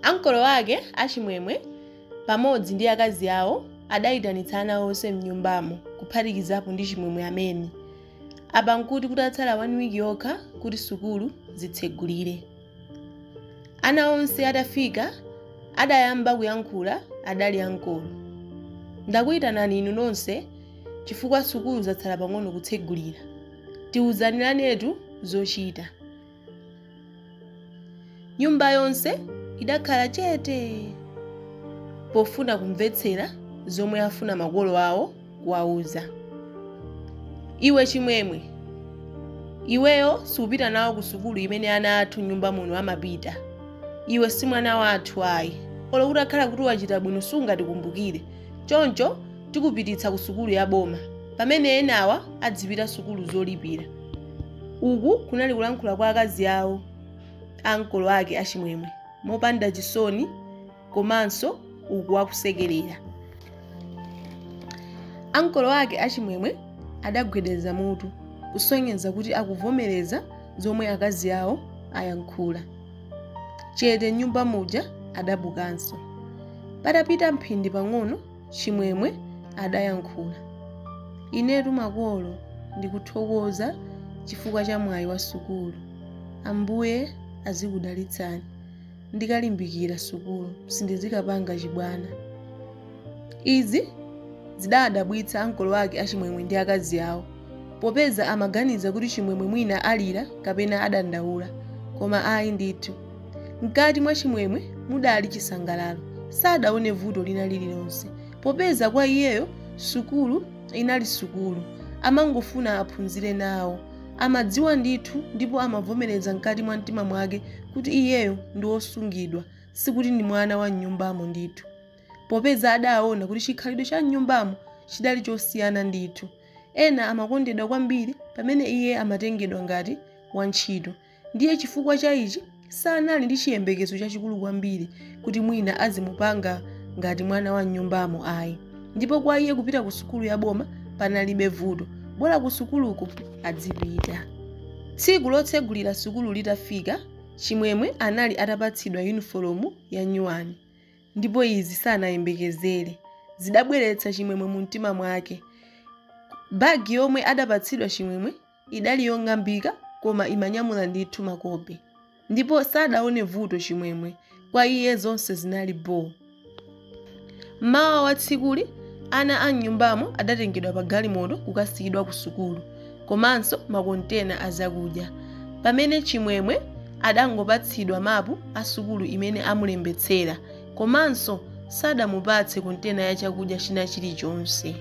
Ankolo ake a Chimwemwe pamodzi ndi akazi awo adaitanitsa ana onse m'nyumbamo kuphatikizapo ndi Chimwemwe amene. Apa n'kuti kutatsala wani wiki yokha kuti sukulu zitsegulire. Ana onse atafika adayamba kuyankhula adali ankolo. Ndakuitanani inu nonse chifukwa sukulu zatsala pang'ono kutsegulira. Tiuziranetu zochita. nyumba yonse idakhala chete pofuna kumvetsera zomwe afuna makolo awo kuwauza iwe chimwemwe iweyo siupita nawo ku sukulu imene ana athu m'nyumba muno amapita iwe si mwana wathu ayi olo utakhala kuti wachita bwino sungatikumbukire choncho tikupititsa ku sukulu ya boma pamene enawa adzipita sukulu zolipira uku kunali kulankhula kwa akazi awo a ankolo ake achimwemwe mopanda chisoni komanso uku akusekerera ankolo ake achimwemwe adagwedeza mutu kusonyeza kuti akuvomereza zomwe akazi awo ayankhula chete m'nyumba muja adabukanso patapita mphindi pang'ono Chimwemwe adayankhula. Inetu makolo ndikuthokoza chifukwa cha mwayi wa sukulu. Ambuye azikudalitsani. Ndikalimbikira sukulu sindizikapanga chibwana. Izi zidawadabwitsa ankolo ake a Chimwemwe ndi akazi awo popeza amaganiza kuti Chimwemwe mwina alira kapena adandaula, koma ayi ndithu. Mkati mwa Chimwemwe mudali chisangalalo. Sadaone vuto lina lililonse, popeza kwa iyeyo sukulu inali sukulu. Amangofuna aphunzire nawo. Amadziwa ndithu ndipo amavomereza mkati mwa mtima mwake kuti iyeyo ndi wosungidwa, sikuti ndi mwana wa m'nyumbamo ndithu. Popeza adaona kuti chikhalidwe cha m'nyumbamo chidali chosiyana ndithu. Ena amakondedwa kwambiri pamene iye amatengedwa ngati wantchito. ndiye chifukwa cha ichi sanali ndi chiyembekezo chachikulu kwambiri kuti mwina azimupanga ngati mwana wa mnyumbamo ayi ndipo kwa iye kupita ku sukulu ya boma panalibe vuto bola ku sukuluko adzipita tsiku lotsegulira sukulu litafika chimwemwe anali atapatsidwa yunifolomu ya nyuwani ndipo izi sanayembekezere zidabweretsa chimwemwe mu mtima mwake bagi yomwe adapatsidwa chimwemwe idali yong'ambika koma imanyamula ndithu makope ndipo sadaone vuto chimwemwe kwa iye zonse zinali boo mmawa wa tsikuli ana a mnyumbamo adatengedwa pa galimoto kukasiyidwa ku sukulu komanso makontena a zakudya pamene chimwemwe adangopatsidwa mapu a sukulu imene amulembetsera komanso sadamupatse kontena ya chakudya china chilichonse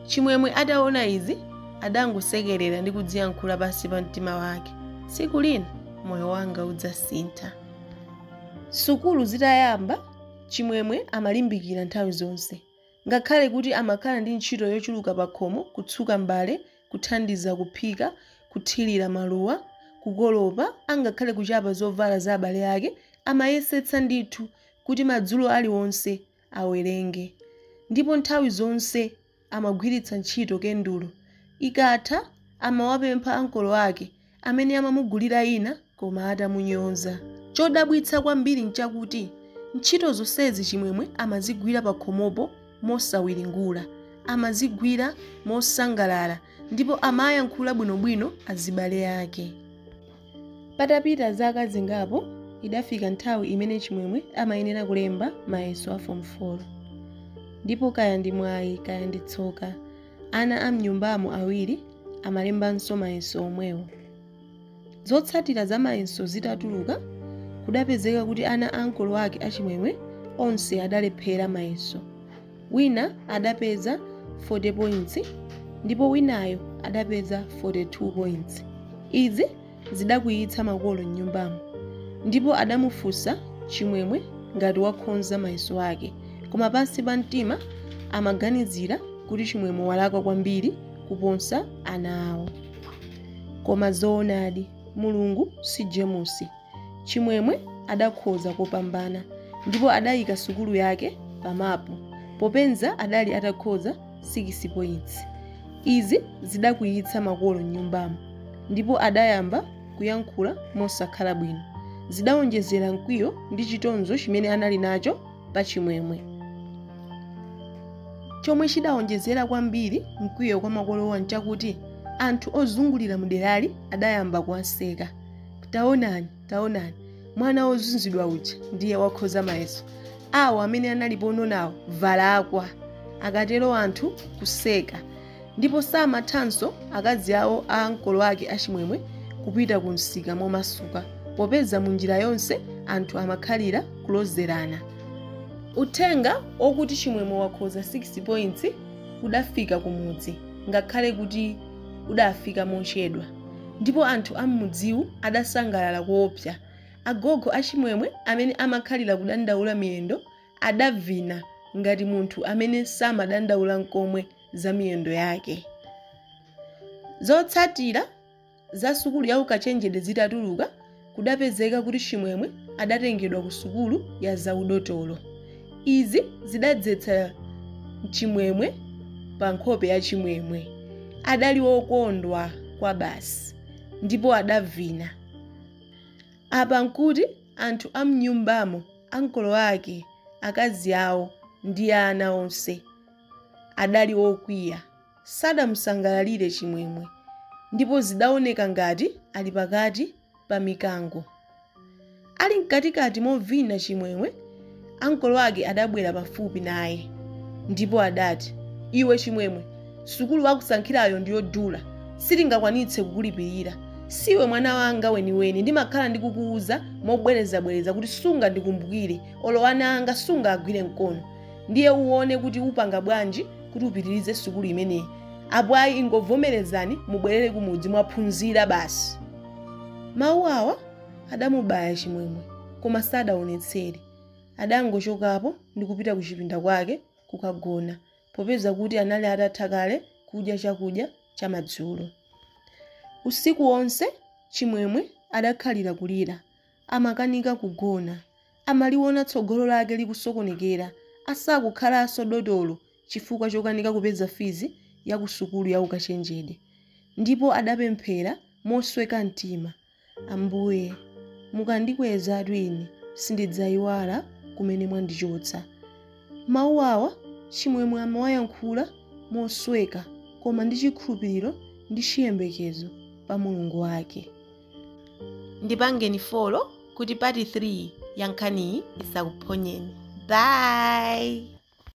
chimwemwe ataona izi adangosekerera ndi kudziyankhula pansi pa mtima wake tsiku lina moyo wanga udzasintha sukulu zitayamba chimwemwe amalimbikira nthawi zonse ngakhale kuti amakhala ndi ntchito yochuluka pakhomo kutsuka mbale kuthandiza kuphika kuthirira maluwa kukolopa angakhale kuchapa zovala za abale ake amayesetsa ndithu kuti madzulo aliwonse awerenge. Ndipo nthawi zonse amagwiritsa ntchito kendulo. Ikatha, amawapempha ankolo ake, amene amamugulira ina koma atamunyoza. Chodabwitsa kwambiri n'chakuti ntchito zonsezi Chimwemwe amazigwira pakhomopo mosawiringula. Amazigwira mosangalala ndipo amayankhula bwinobwino azibale ake. Patapita zaka zingapo, idafika nthawi imene Chimwemwe amayenera kulemba mayeso a Form 4. Ndipo kaya ndi mwayi kaya ndi tsoka, ana a m'nyumbamo awiri amalembanso mayeso omwewo. Zotsatira za mayeso zitatuluka, kudapezeka kuti ana a ankolo ake a Chimwemwe onse adalephera mayeso. Wina adapeza 40 points ndipo winayo adapeza 42 points. Izi zidakwiyitsa makolo m'nyumbamo ndipo adamufunsa Chimwemwe ngati wakhonza mayeso ake koma pansi pa mtima amaganizira kuti Chimwemwe walakwa kwambiri kuposa ana awo. Koma zoonadi Mulungu si jemusi. Chimwemwe adakhoza kopambana ndipo adayika sukulu yake pa mapu popeza adali atakhoza 6 points. Izi zidakwiyitsa makolo m'nyumbamo ndipo adayamba kuyankhula mosakhala bwino. Zidawonjezera mkwiyo ndi chitonzo chimene anali nacho pa Chimwemwe. Chomwe chidawonjezera kwambiri mkwiyo kwa makolowa nchakuti anthu ozungulira muderali adayamba kuwaseka. taonani taonani mwana wozunzidwa uja ndiye wakhoza mayeso awo amene analipo nawo alakwa akatero anthu kuwaseka ndipo samathanso akazi awo a ankolo ake achimwemwe kupita ku msika momasuka popeza mu njira yonse anthu amakhalira kulozerana uthenga wokuti chimwemwe wakhoza 6 points udafika kumudzi ngakhale kuti udafika mochedwa ndipo anthu am'mudziwu adasangalala koopsa. Agogo a Chimwemwe amene amakhalira kudandaula miyendo adavina ngati munthu amene samadandaula nkomwe za miyendo yake. Zotsatira za sukulu ya ukachenjede zitatuluka, kudapezeka kuti Chimwemwe adatengedwa ku sukulu ya zaudotolo. Izi zidadzetsa chimwemwe pa nkhope ya Chimwemwe. Adali wokondwa kwabasi ndipo adavina. Apa nkuti anthu a m'nyumbamo, ankolo ake, akazi awo ndi ana onse, adali okwiya. sadamusangalalire Chimwemwe ndipo zidaoneka ngati ali pakati pa mikango. Ali mkatikati movina Chimwemwe ankolo ake adabwera pafupi naye ndipo adati, Iwe Chimwemwe, sukulu akusankhirayo ndi yodula, sitingakwanitse kukulipirira. Siwe mwana wanga weniweni, ndimakhala ndikukuuza mobwerezabwereza kuti sungandikumbukire, olo ana anga sungawagwire mkono. ndiye uone kuti upanga bwanji kuti upitirize sukulu imeneyi apo ayi ingovomerezani mubwerere kumudzi mwaphunzira basi mawu awa adamubaya chimwemwe koma sadaonetsere adangochokapo ndi kupita ku chipinda kwake kukagona popeza kuti anali atatha kale kudya chakudya chamadzulo usiku wonse chimwemwe adakhalira kulira amakanika kugona, amaliona tsogolo lake likusokonekera, asakukhalaso dotolo chifukwa chokanika kupeza fees ya ku sukulu ya ukachenjede. Ndipo adapemphera mosweka mtima, Ambuye, mukandikwezatu ine sindidzaiwala kumene mwandichotsa. Mawu awa Chimwemwe amawayankhula mosweka koma ndi chikhulupiriro ndi chiyembekezo pa Mulungu wake. ndipangeni follow kuti part 3 ya nkhaniyi isakuphonyeni bye